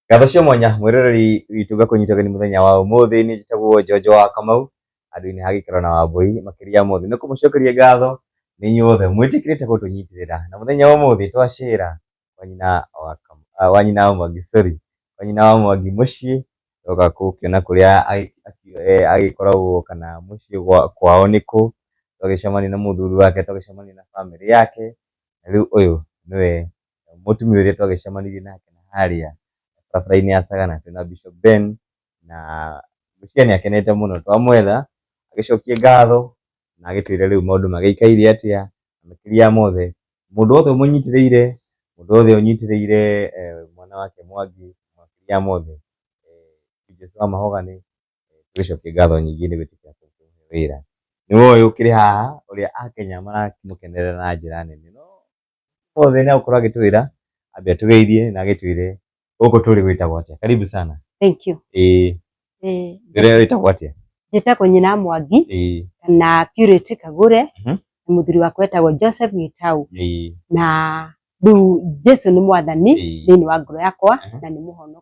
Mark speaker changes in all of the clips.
Speaker 1: ngatho cia mwanya mwĩroreri witũ ngakũnyita ũgeni mũthenya wa ũmũthĩ nĩ njĩtagwo njonjo wa kamau andũ-inĩ ha gĩkĩro na wambũi makĩria mothe nĩ kũmũcokeria ngatho nĩ inyuothe mwĩtĩkĩrĩte gũtũnyitĩrĩra na mũthenya wa ũmũthĩ twacĩra kwa nyina wa Kam- ah, wa nyina wa mwangi sorry kwa nyina wa mwangi mũciĩ oka gũkĩona kũrĩa agĩ- aki- eh, agĩkoragwo kana mũciĩ gwa- kwao nĩ kũ twagĩcemania na mũthuri wake twagĩcemania na bamĩrĩ yake na rĩu ũyũ nĩwe mũtumia ũrĩa twagĩcemanirie nake harĩa barabara-inĩ ya Sagana twĩna Bishop Ben, na ngwĩciria nĩ akenete mũno. Twamwetha agĩcokia ngatho na agĩtwĩra rĩu maũndũ magĩikaire atĩa, na makĩria mothe mũndũ wothe ũmũnyitĩrĩire, mũndũ wothe ũnyitĩrĩire mwana wake Mwangi, makĩria mothe Jesũ wa mahoga nĩ tũgĩcokia ngatho nyingĩ nĩ gwĩtĩkia wĩra. Nĩ ũyũ ũkĩrĩ haha ũrĩa Akenya maramũkenerera na njĩra nene. Mothe na ukorwo agitwira ambe atugeirie na agitwire guku turi gwitagwo atia. Karibu sana. Thank you.
Speaker 2: Eh. Eh.
Speaker 1: Rere witagwo atia? Njĩtagwo nyina
Speaker 2: Mwangi eh. na Purity Kagure uh mhm. -huh. na mũthuri wakwa etagwo Joseph Gitau eh. na rĩu Jesu nĩ mwathani thĩinĩ wa ngoro yakwa uh -huh. na nĩ mũhonokia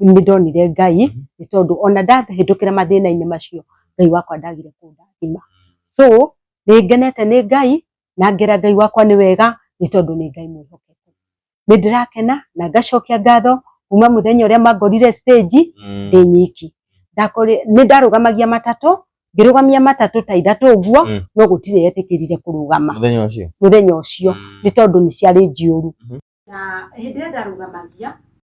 Speaker 2: nĩ ndonire Ngai nĩ tondũ ona ndahĩtũkĩra mathĩna-inĩ macio Ngai wakwa ndagire kũndathima. So nĩ ngenete nĩ Ngai na ngera Ngai wakwa nĩ wega nĩ tondũ nĩ Ngai mwĩhokeku. Nĩ ndĩrakena na ngacokia ngatho kuma mũthenya ũrĩa mangorire stage Mm. ndĩ nyiki. Ndakore- Nĩ ndarũgamagia matatũ ngĩrũgamia matatũ ta ithatũ ũguo Mm. no gũtirĩ yetĩkĩrire kũrũgama Mũthenya ũcio. mũthenya ũcio Mm. nĩ tondũ nĩ ciarĩ njihũru. Mhm. Na hĩndĩ ĩrĩa ndarũgamagia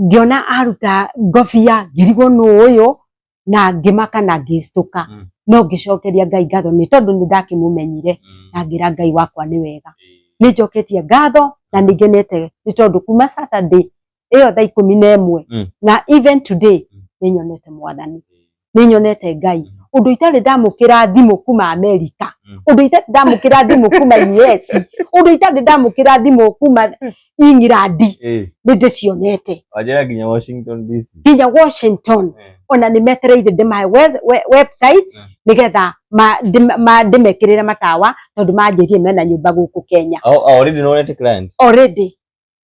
Speaker 2: ngiona aruta ngobia ngirigwo nũ ũyũ na ngĩmaka na ngĩcitũka Mm. no ngĩcokeria ngai ngatho nĩ tondũ nĩ ndakĩmũmenyire Mm. na ngĩra ngai wakwa nĩ wega Eh, nĩ njoketie ngatho na nĩ ngenete nĩ tondũ kuma saturday ĩyo thaa ikũmi na ĩmwe Mm. na even today Mm. nĩ nyonete mwathani nĩ nyonete ngai ũndũ itarĩ ndamũkĩra thimũ kuma amerika Mm. ũndũ itarĩ ndamũkĩra thimũ kuma us ũndũ itarĩ ndamũkĩra thimũ kuma england Eh, nĩ ndĩcionete wajera nginya washington
Speaker 1: dc nginya washington Eh,
Speaker 2: ona nĩ metereire ndĩmahe we- we- website Mm. nĩgetha ma- ndĩm- ma- ndĩmekĩrĩre matawa tondũ manjĩrie mena nyũmba gũkũ kenya au- au already nonete
Speaker 1: client already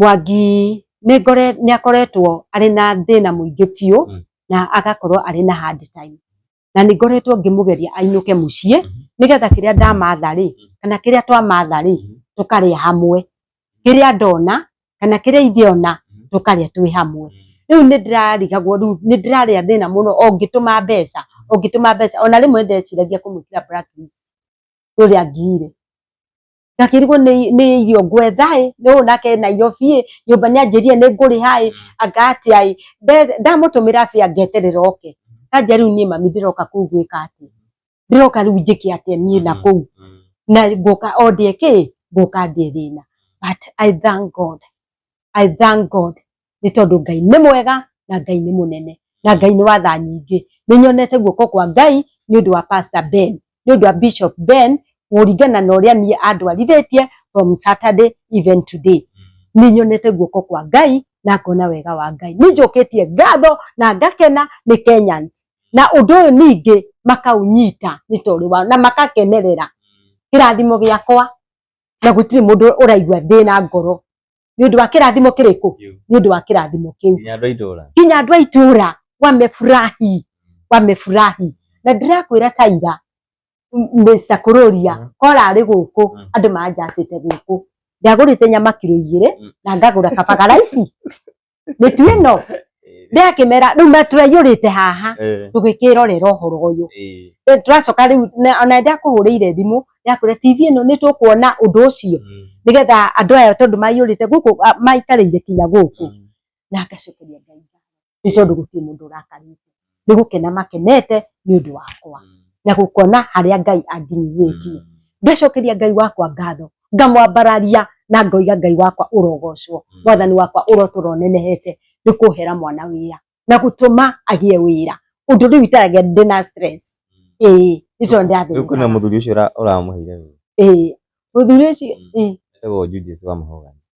Speaker 1: Mwangi
Speaker 2: nĩ ngore nĩ akoretwo arĩ na thĩna mũingĩ biũ Mm. na agakorwo arĩ na hard time na nĩ ngoretwo ngĩmũgeria ainũke mũciĩ Mhm. nĩgetha kĩrĩa ndamatha rĩ Mm. kana kĩrĩa twamatha rĩ Mhm. tũkarĩa hamwe kĩrĩa ndona kana kĩrĩa ithe ona Mhm. tũkarĩa twĩ hamwe rĩu nĩ ndĩrarigagwo rĩu nĩ ndĩrarĩa thĩna mũno o ngĩtũma mbeca o ngĩtũma mbeca ona rĩmwe ndeciragia kũmwĩkĩra blacklist rĩrĩa ngire ngakĩrigwo nĩ nĩ irio ngwetha ĩ nĩ ũũ nake ena irio biĩ nyũmba nĩ anjĩrire nĩ ngũrĩha ĩ anga atĩa ĩ Nde- ndamũtũmĩra bĩa ngeterera oke kanja rĩu niĩ mami ndĩroka kũu gwĩka atĩa ndĩroka rĩu njĩke atĩa niĩ na kũu Mm. na ngũka o ndĩe kĩ ngũka ndĩe thĩna but I thank God I thank God nĩ tondũ ngai nĩ mwega na ngai nĩ mũnene na ngai nĩ watha nyingĩ nĩ nyonete guoko kwa ngai nĩ ũndũ wa pastor ben nĩ ũndũ wa bishop ben kũringana na ũrĩa niĩ andwarithĩtie from saturday even today nĩ nyonete guoko kwa ngai na ngona wega wa ngai nĩ njũkĩtie ngatho na ngakena nĩ kenyans na ũndũ ũyũ ningĩ makaũnyita nĩ tondũ wao na makakenerera kĩrathimo gĩakwa na gũtirĩ mũndũ ũraigua thĩna ngoro nĩ ũndũ wa kĩrathimo kĩrĩkũ nĩ ũndũ wa kĩrathimo
Speaker 1: kĩu
Speaker 2: nginya andũ
Speaker 1: a
Speaker 2: itũra wamefurahi wamefurahi na ndĩrakwĩra taira Mr. Kururia mm. kora arĩ gũkũ mm. andũ manjacĩte gũkũ ndagũrĩte nyama kiro igĩrĩ mm. na ngagũra kabagaraici mitu ino ndakimera riu maturaiyurite haha eh. tugikirorera uhoro uyu eh. eh, turacoka riu ona ndakuhurire thimu ndakwira tv ino nitukuona undu ucio mm. nigetha andu aya tondu maiyurite guku maikarire kinya guku mm. na ngacokeria ngai ni tondu guti mundu urakarite nĩ gũkena makenete nĩ ũndũ wakwa na gũkona harĩa Ngai anginyithĩtie. Ngacokeria Ngai wakwa ngatho, ngamwambararia na ngoiga Ngai wakwa ũrogocwo, mwathani wakwa ũrotũra ũnenehete nĩ kũhera mwana wĩra na gũtũma agĩe wĩra ũndũ rĩu itaragĩa ndĩ na stress. Ĩĩ nĩ tondũ ndĩrathĩnĩkaga. Rĩu kwĩna mũthuri ũcio
Speaker 1: ũramũheire wĩra. Ĩĩ mũthuri
Speaker 2: ũcio. Etagwo Judith
Speaker 1: Wamũhũgania.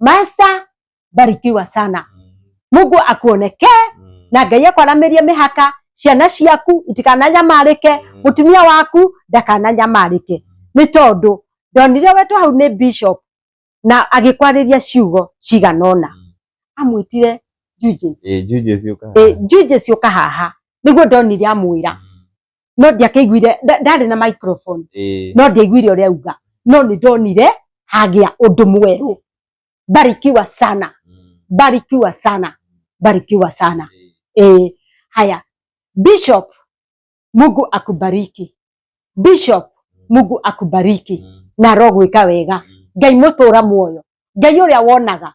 Speaker 2: master barikiwa sana mungu akuonekee na ngai akwaramirie mihaka ciana ciaku itikananyamarĩke mutumia waku ndakananyamarĩke nĩ tondũ ndonire wetwo hau nĩ bishop na agĩkwarĩria ciugo cigana ũna amwĩtire Julius. Eh, Julius Yuka. Eh, Julius ũka haha nĩguo ndonire amwĩra no ndiakĩiguire ndarĩ na microphone no ndiaiguire ũrĩa auga no nĩ ndonire hagĩa ũndũ mwerũ barikiwa sana mm. barikiwa sana barikiwa sana eh, haya bishop Mungu akubariki bishop mm. Mungu akubariki mm. na rogwika wega mm. ngai mutura muoyo ngai uria wonaga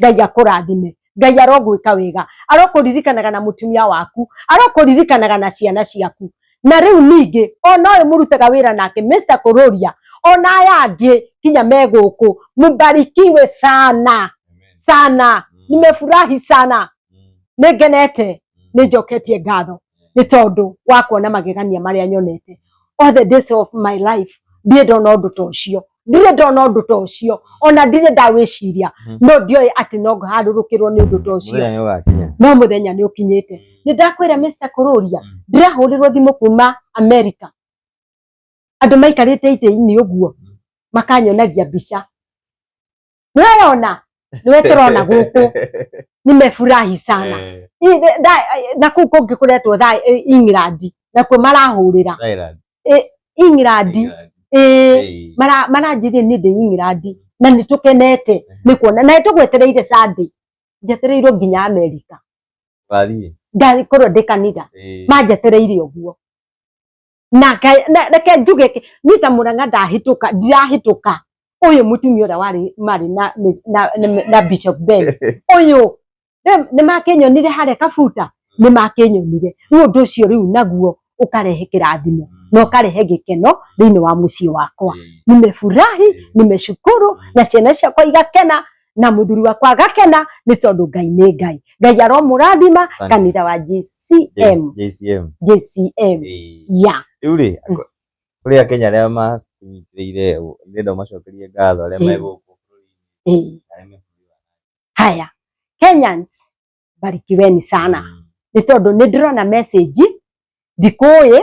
Speaker 2: ngai akũrathime ngai arogwĩka wega arokũririkanaga na mũtumia waku arokũririkanaga na ciana ciaku na rĩu ningĩ ona ũyũ mũrutaga wĩra nake Mr. kũrũria ona aya angĩ kinya me gũkũ mũbarikiwe sana sana nimefurahi sana nĩngenete nĩnjoketie ngatho nĩ tondũ wa kuona magegania marĩa nyonete all the days of my life ndirĩ ndona ũndũ ta ũcio ndirĩ ndona ũndũ ta ũcio ona ndirĩ ndawĩciria Mhm. no ndioĩ atĩ no harũrũkĩrwo nĩ ũndũ ta ũcio mũthenya nĩ ũgakinya no mũthenya nĩ ũkinyĩte nĩ ndakwĩra Mr. Kũrũria Mm. ndĩrahũrĩrwo thimũ kuma America andũ maikarĩte itĩ-inĩ ũguo makanyonagia mbica nĩweyona nĩwe tũrona gũkũ nimefurahi sana Eh, Ĩ- ĩ- tha- ĩ- na kuu kũngĩ kũretwo tha england nakuo marahũrĩra Thailand, england England. ĩ Eh, mara- maranjĩria nĩ ndĩ england na nĩ tũkenete nĩ kuona na tũgwetereire sunday njetereirwo nginya amerika wathiĩ? ngakorwo ndĩ kanitha Eh, manjetereire ũguo na ngai- na- reke njuge ki- ni ta muranga ndahituka ndirahituka uyu mutumia uria wari mari na Miss- na, na, na bishop ben uyu ni makinyonire haria kabuta ni makinyonire riu undu ucio riu naguo ukarehe kirathimo na ukarehe gikeno thiini wa mucii wakwa nimefurahi nimeshukuru na ciana ciakwa igakena na muthuri wakwa agakena ni tondu ngai ni ngai ngai aromurathima kanitha wa JCM JCM JCM ya riu ri
Speaker 1: kuri akenya aria makunyitire ni ndo macokerie ngatho aria me guku
Speaker 2: haya Kenyans barikiweni sana mm. ni tondu ni ndirona message ndikuyi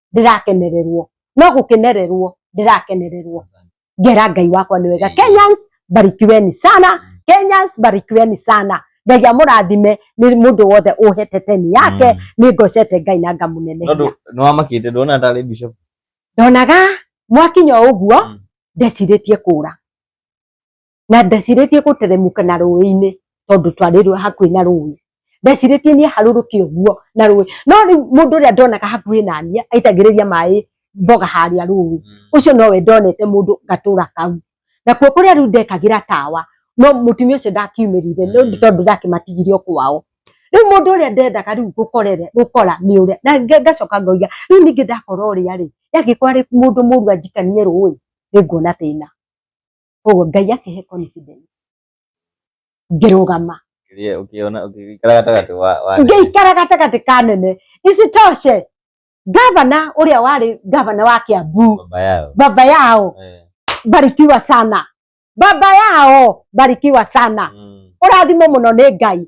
Speaker 2: ndĩrakenererwo no gũkenererwo ndĩrakenererwo ngera ngai wakwa nĩ wega kenyans barikiweni sana kenyans barikiweni sana ngai amũrathime nĩ mũndũ wothe ũhete teni yake Mm. nĩ ngocete ngai na ngamũnene Tondũ nĩwamakĩte
Speaker 1: ndona tarĩ bishop. ndonaga
Speaker 2: mwakinya o ũguo Mm. ndecirĩtie kũra na ndecirĩtie gũteremuka na rũĩ-inĩ tondũ twarĩ rũĩ hakuhĩ na rũĩ ndecirĩtie niĩ harũrũke ũguo na rũĩ no rĩu mũndũ ũrĩa ndonaga hakuhĩ na niĩ aitagĩrĩria maĩ mboga harĩa rũĩ mm. ũcio nowe ndonete mũndũ gatũra kau nakuo kũrĩa rĩu ndekagĩra tawa no mũtumia ũcio ndakiumĩrire nĩ mm. tondũ ndakĩmatigire o kwao rĩu mũndũ ũrĩa ndendaga rĩu gũkorere gũkora nĩ ũrĩa na ngacoka ngoiga rĩu ningĩ ndakora ũrĩa rĩ yangĩkorwo arĩ mũndũ mũru anjikanie rũĩ nĩ nguona thĩna koguo ngai akĩhe confidence ngĩrũgama Kĩrĩa ũkĩona ũkĩikara
Speaker 1: gatagatĩ wa wa ngĩikara gatagatĩ
Speaker 2: ka nene isitoshe gavana ũrĩa warĩ gavana wa kĩambu baba yao baba yao Eh, barikiwa sana baba yao barikiwa sana mm, ũrathimwo mũno nĩ ngai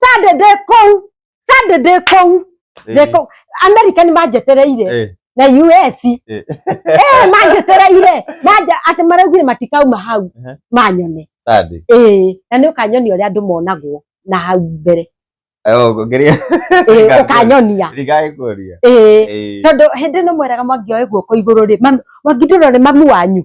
Speaker 2: sadede kũu sadede kũu Theko- america nĩ manjetereire Eh, na us eh. Eh, manjetereire manja atĩ maraugire matikauma hau Ehe. manyone Saturday. Ĩĩ, na nĩ ũkanyonia ũrĩa andũ monagwo na hau mbere Eh, oh, ngeria-
Speaker 1: Ĩĩ, Ngakuonia.
Speaker 2: ũkanyonia Ndigagĩkũria.
Speaker 1: Ĩĩ, Eh, tondũ
Speaker 2: hĩndĩ ĩno mweraga mwangioe guoko igũrũ rĩ mami- mwangindũrwo nĩ mamu wanyu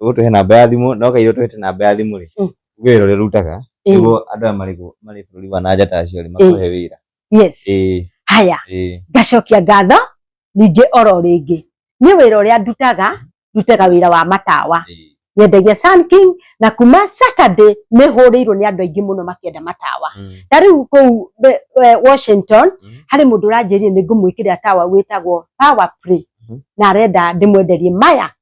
Speaker 1: ũtũhe namba ya thimũ no kairĩ ũtũhete namba ya thimũ rĩ Mm. wĩra ũrĩa ũrutaga Eh, nĩguo andũ aya marĩ gũ- marĩ bũrũri wa nanja ta acio rĩ makũhe wĩra yes ĩĩ
Speaker 2: haya ĩĩ ngacokia ngatho ningĩ oro rĩngĩ nĩ wĩra ũrĩa ndutaga ndutaga wĩra wa matawa ĩĩ nyendagia Sun King na kuma Saturday nĩ hũrĩirwo nĩ andũ aingĩ mũno makĩenda matawa Mm. ta rĩu kũu be- eh, Washington Mm. harĩ mũndũ ũranjĩrire nĩ ngũmwĩkĩrĩra tawa wĩtagwo power play Mhm. na arenda ndĩmwenderie maya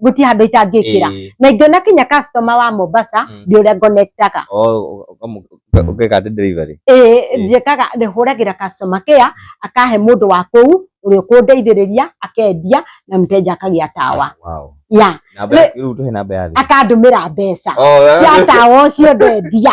Speaker 2: guti handu itangikira Eh. na ingiona kinya customer wa Mombasa Mm. ndi uria ngonektaga Oh, ukamu- uka-
Speaker 1: ukeka ati delivery. eh njikaga
Speaker 2: ndihuragira customer care akahe mundu wa kuu uria ukundeithiriria akendia na mteja akagia tawa Wow. ya Namba Ne- ya-
Speaker 1: rĩu tuhe namba ya thimũ. akandumira mbeca
Speaker 2: Oh, cia tawa ucio ndendia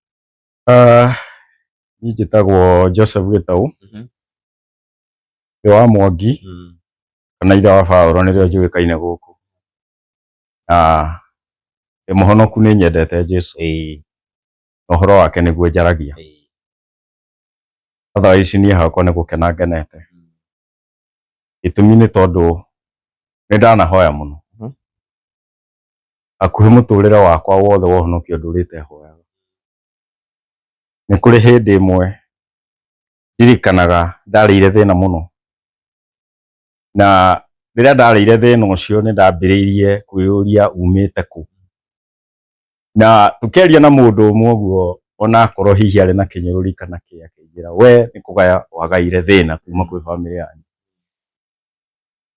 Speaker 1: Ah,
Speaker 3: niĩ njĩtagwo Joseph Gĩtaũ Mhm. ndĩ wa Mwangi Mm. kana ithe wa Baũrũ nĩrĩo njũĩkaine gũkũ na ndĩ mũhonoku nĩ nyendete Jesu Ĩĩ, na ũhoro wake nĩguo njaragia ĩĩ. otherwise niĩ hakwa nĩ gũkena ngenete Mm. gĩtũmi nĩ tondũ nĩ ndanahoya mũno Mhm. hakuhĩ mũtũrĩre wakwa wothe wa ũhonokio ndũrĩte hoyaga. Nĩ kũrĩ hĩndĩ ĩmwe ndirikanaga ndarĩire thĩna mũno, na rĩrĩa ndarĩire thĩna ũcio nĩ ndambĩrĩirie kwĩyũria umĩte kũ. Na tũkĩaria na mũndũ ũmwe ũguo onakorwo hihi arĩ na kĩnyũrũri kana kĩ akĩnjĩra we nĩ kũgaya wagaire thĩna kuma kwĩ bamĩrĩ yanyu.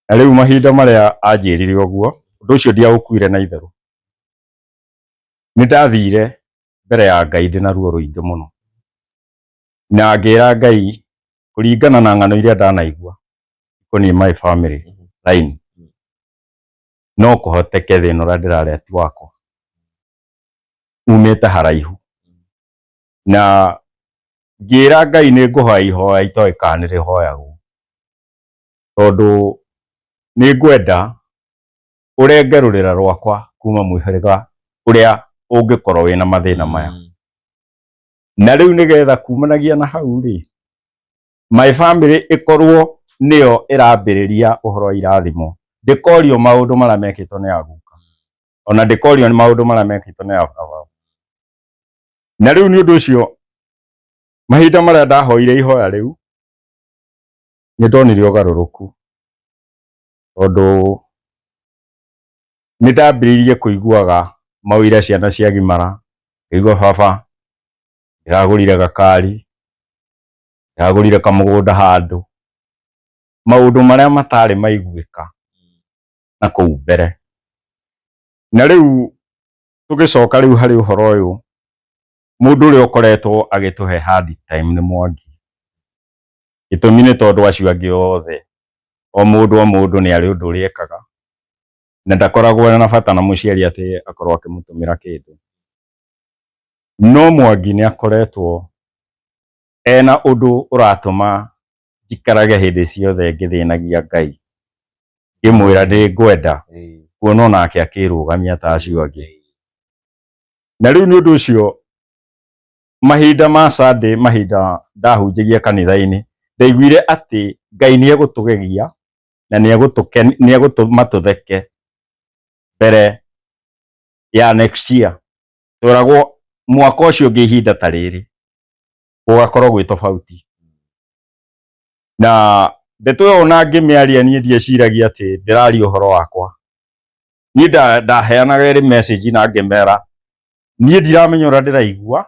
Speaker 3: na rĩu mahinda marĩa anjĩrire ũguo ũndũ ũcio ndiaũkuire na itherũ nĩ ndathire mbere ya ngai ndĩ na ruo rũingĩ mũno na ngĩra ngai kũringana na ng'ano iria ndanaigua ikoniĩ my family line no kũhoteke thĩna ũrĩa ndĩrarĩa ti wakwa umĩte haraihu na ngĩra ngai nĩ ngũhoya ihoya itoĩ kana nĩ rĩhoyagwo tondũ nĩ ngwenda ũrenge rũrĩra rwakwa kuma mũhĩrĩga ũrĩa ũngĩkorwo wĩna mathĩna mm. maya na rĩu nĩgetha kumanagia na hau rĩ my family ĩkorwo nĩyo ĩrambĩrĩria ũhoro wa irathimo ndĩkorio maũndũ marĩa mekĩtwo nĩ aguka ona ndĩkorio maũndũ marĩa mekĩtwo nĩ ababa na rĩu nĩ ũndũ ũcio mahinda marĩa ndahoire ihoya rĩu nĩ ndonire ũgarũrũku tondũ nĩ ndambĩrĩirie kũiguaga mawĩra ciana cia gimara ngaigua baba ndĩragũrire gakari, ndĩragũrire kamũgũnda handũ, maũndũ marĩa matarĩ maiguĩka na kũu mbere. Na rĩu tũgĩcoka rĩu harĩ ũhoro ũyũ, mũndũ ũrĩa ũkoretwo agĩtũhe hard time nĩ Mwangi. gĩtũmi nĩ tondũ acio angĩ othe o mũndũ o mũndũ nĩ arĩ ũndũ ũrĩa ekaga na ndakoragwo na bata na mũciari atĩ akorwo akĩmũtũmĩra kĩndũ no mwangi nĩ akoretwo ena ũndũ ũratũma njikarage hĩndĩ ciothe ngĩthĩnagia ngai ngĩmwĩra nĩ ngwenda Ĩĩ. kuona onake akĩrũgamia ta acio angĩ na rĩu nĩ ũndũ ũcio mahinda ma Sunday mahinda ndahunjagia kanitha-inĩ ndaiguire atĩ Ngai nĩ egũtũgegia na nĩ egũtũma tũtheke mbere ya next year tweragwo mwaka ũcio ũngĩ ihinda ta rĩrĩ gũgakorwo gwĩ tofauti na ndeto ĩyo ona ngĩmĩaria niĩ ndieciragia atĩ ndĩraria ũhoro wakwa niĩ ndaheanaga ĩrĩ message na ngĩmera niĩ ndiramenya ũrĩa ndĩraigua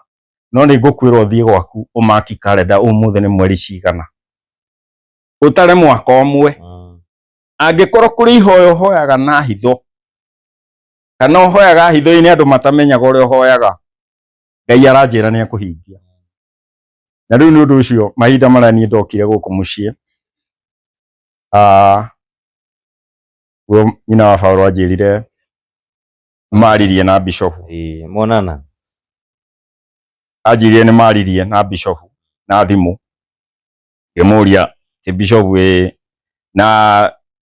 Speaker 3: no nĩ ngũkwĩra ũthiĩ gwaku ũmaki karenda ũmũthĩ nĩ mweri cigana ũtare mwaka ũmwe mm. angĩkorwo kũrĩ ihoya ũhoyaga na hitho kana ũhoyaga hitho-inĩ andũ matamenyaga ũrĩa ũhoyaga ngai aranjĩra nĩ akũhingia na rĩu nĩ ũndũ ũcio mahinda marĩa niĩ ndokire gũkũ mũciĩ ah, guo nyina wa Baũrũ anjĩrire maririe na bishofu ĩĩ monana anjirire nĩ maririe na bishofu na thimũ ngĩmũria ti bishofu ĩ na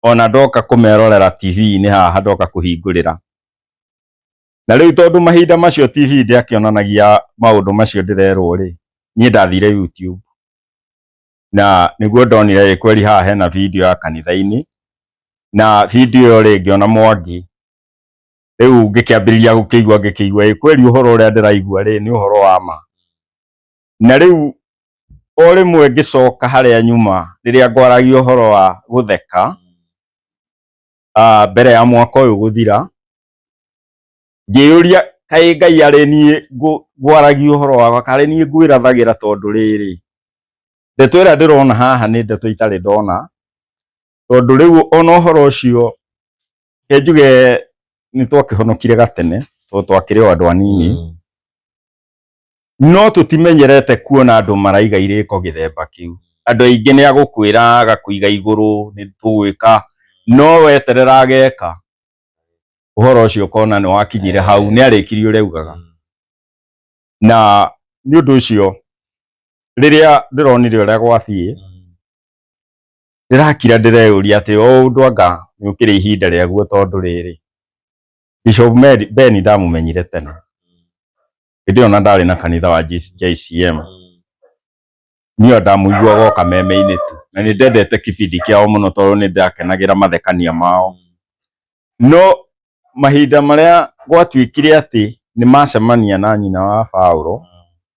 Speaker 3: ona ndoka kũmerorera tv-inĩ haha ndoka kũhingũrĩra na rĩu tondũ mahinda macio tv ndĩakĩonanagia maũndũ macio ndĩrerwo rĩ niĩ ndathire youtube na nĩguo ndonire ĩ kweli haha hena video ya kanitha-inĩ na video ĩyo rĩ ngĩona mwangi riu ngikiambiriria gukiigua ngikiigua ĩ kweli uhoro uria ndiraigua ri ni uhoro wa ma na riu o rimwe ngicoka haria nyuma riria ngwaragia uhoro wa gutheka ah, mbere ya mwaka uyu guthira ngiyuria kaĩ ngai arĩ niĩ ngũ- ngwaragia ũhoro wakwa karĩ niĩ ngwĩrathagĩra tondũ rĩrĩ ndeto ĩrĩa ndĩrona haha nĩ ndeto itarĩ ndona tondũ rĩu ona ũhoro ũcio Ke njuge nĩ twakĩhonokire gatene tondũ twakĩrĩ o andũ anini Mm. no tũtimenyerete kuona andũ maraiga irĩko gĩthemba kĩu andũ aingĩ nĩ agũkwĩra agakũiga igũrũ nĩ tũgwĩka no weterera ageka ũhoro ũcio ũkona nĩ wakinyire hau nĩ arĩkirie ũrĩa augaga Mm. na nĩ ũndũ ũcio rĩrĩa ndĩronire ũrĩa gwathiĩ Mm. ndĩrakira ndĩreyũria atĩ o ũndũ anga yũkĩrĩ ihinda rĩaguo tondũ rĩrĩ Bishop Mary- Ben ndamũmenyire tene hĩndĩ ĩyo na ndarĩ na kanitha wa JC- JCM niyo ndamũiguaga o kameme-inĩ tu na nĩ ndendete kĩbindi kĩao mũno tondũ nĩ ndakenagĩra mathekania mao no mahinda marĩa gwatuĩkire atĩ nĩ macemania na nyina wa Paulo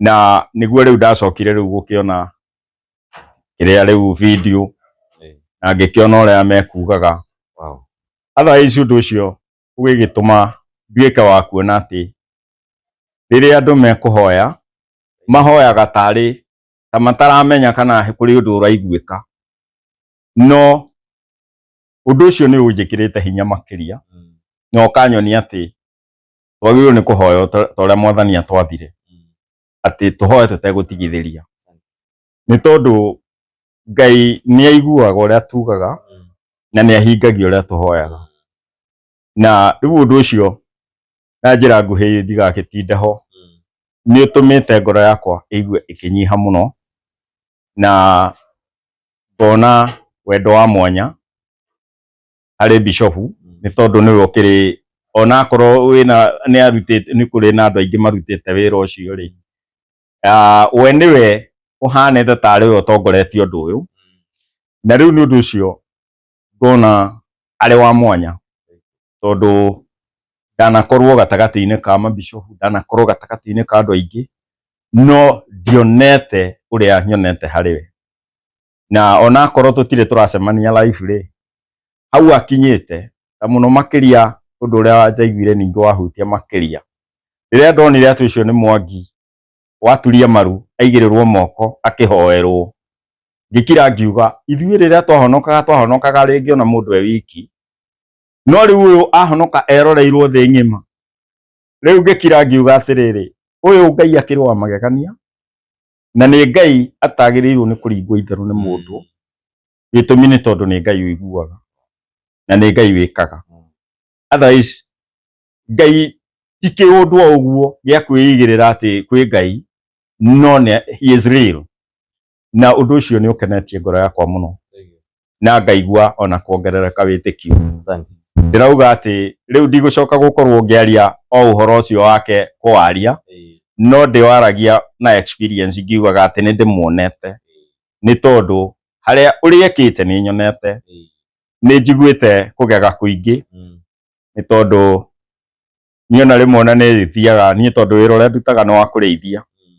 Speaker 3: na niguo riu ndacokire riu gukiona kiria riu video na ngikiona uria mekugaga wow otherwise undu ucio ugigituma nduike wa kuona ati riria andu mekuhoya mahoyaga tari ta mataramenya kana kuri undu uraiguika no undu ucio ni unjikirite hinya makiria mm. no kanyonia ati twagĩrĩirwo nĩ kũhoya o ta ta ũrĩa mwathani atwathire atĩ tũhoe tũtegũtigithĩria nĩ tondũ ngai nĩ aiguaga ũrĩa tugaga na nĩ ahingagia ũrĩa tũhoyaga na rĩu ũndũ ũcio na njĩra nguhĩ ndigagĩtinde ho nĩ ũtũmĩte ngoro yakwa ĩigue ĩkĩnyiha mũno na ngona wendo wa mwanya harĩ bishopu nĩ tondũ nĩwe ũkĩrĩ ona akorwo wĩna nĩ arutĩte nĩ kũrĩ na andũ aingĩ marutĩte wĩra ũcio rĩ ah, we nĩwe ũhanĩte tarĩ we ũtongoretie ũndũ ũyũ na rĩu nĩ ũndũ ũcio ngona arĩ wa mwanya tondũ ndanakorwo gatagatĩ-inĩ ka mabishopu ndanakorwo gatagatĩ-inĩ ka andũ aingĩ no ndionete ũrĩa nyonete harĩ we na onakorwo tutire turacemania live rĩ hau akinyite ta muno makiria undu uria njaiguire ningi wahutia makiria riria ndonire atu icio ni mwangi waturia maru aigirirwo moko akihoerwo ngikira ngiuga ithuĩ rĩrĩa twahonokaga twahonokaga rĩngĩ ona mũndũ e wiki no rĩu ũyũ ahonoka eroreirwo thĩ ng'ima rĩu ngĩkira ngiuga atĩrĩrĩ ũyũ ngai akĩrĩ wa magegania na nĩ ngai atagĩrĩirwo nĩ kũringwo itherũ nĩ mũndũ gĩtũmi nĩ tondũ nĩ ngai ũiguaga na nĩ ngai wĩkaga otherwise ngai ti kĩũndũ o ũguo gĩa kwĩigĩrĩra atĩ kwĩ ngai no nĩ he is real na ũndũ ũcio nĩ ũkenetie ngoro yakwa mũno na ngaigua ona kuongerereka wĩtĩkio Asante. ndĩrauga atĩ rĩu ndigũcoka gũkorwo ngĩaria o ũhoro ũcio wake kũwaria Eh, no ndĩwaragia na experience ngiugaga atĩ nĩ ndĩmuonete nĩ tondũ harĩa ũrĩa ekĩte nĩ nyonete eh, nĩ njiguĩte kũgega kũingĩ mm, nĩ tondũ niĩ ona rĩmwe ona nĩthiaga niĩ tondũ wĩra ũrĩa ndutaga nĩ wa kũrĩithia mm,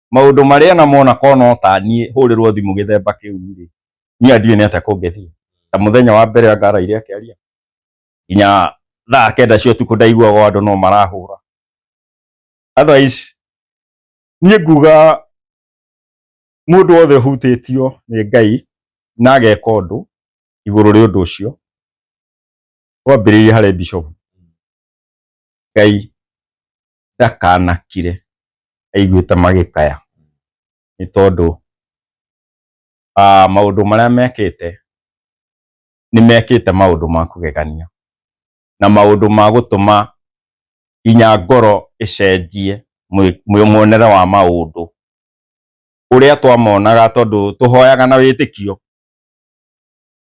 Speaker 3: maundu maria na mona kono tanie hurirwo thimu githemba kiu ri ni andiwe ni atia kungethie ta muthenya wa mbere angara iria akiaria inya thaa kenda cio tuku ndaigua go andu no marahura otherwise ni nguga mundu wothe hutitio ni ngai na ageka undu iguru ri undu ucio wambiririe hare bishop ngai ndakanakire aiguĩte magĩkaya nĩ tondũ ah, maũndũ marĩa mekĩte nĩ mekĩte maũndũ ma kũgegania na maũndũ ma gũtũma nginya ngoro ĩcenjie mwonere wa maũndũ ũrĩa twamonaga tondũ tũhoyaga na wĩtĩkio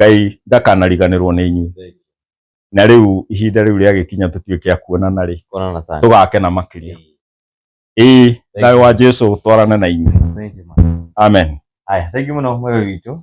Speaker 3: ngai ndakanariganĩrwo nĩ inyuĩ Thank na rĩu ihinda rĩu rĩagĩkinya tũtuĩke a kuonana rĩ Kuonana sana. tũgakena makĩria ĩĩ
Speaker 1: thayũ wa
Speaker 3: jesu
Speaker 1: ũtwarane
Speaker 3: na inyuĩ
Speaker 1: Asante,
Speaker 3: man. amen
Speaker 1: Haya,
Speaker 3: thank you mũno
Speaker 1: mwega witũ.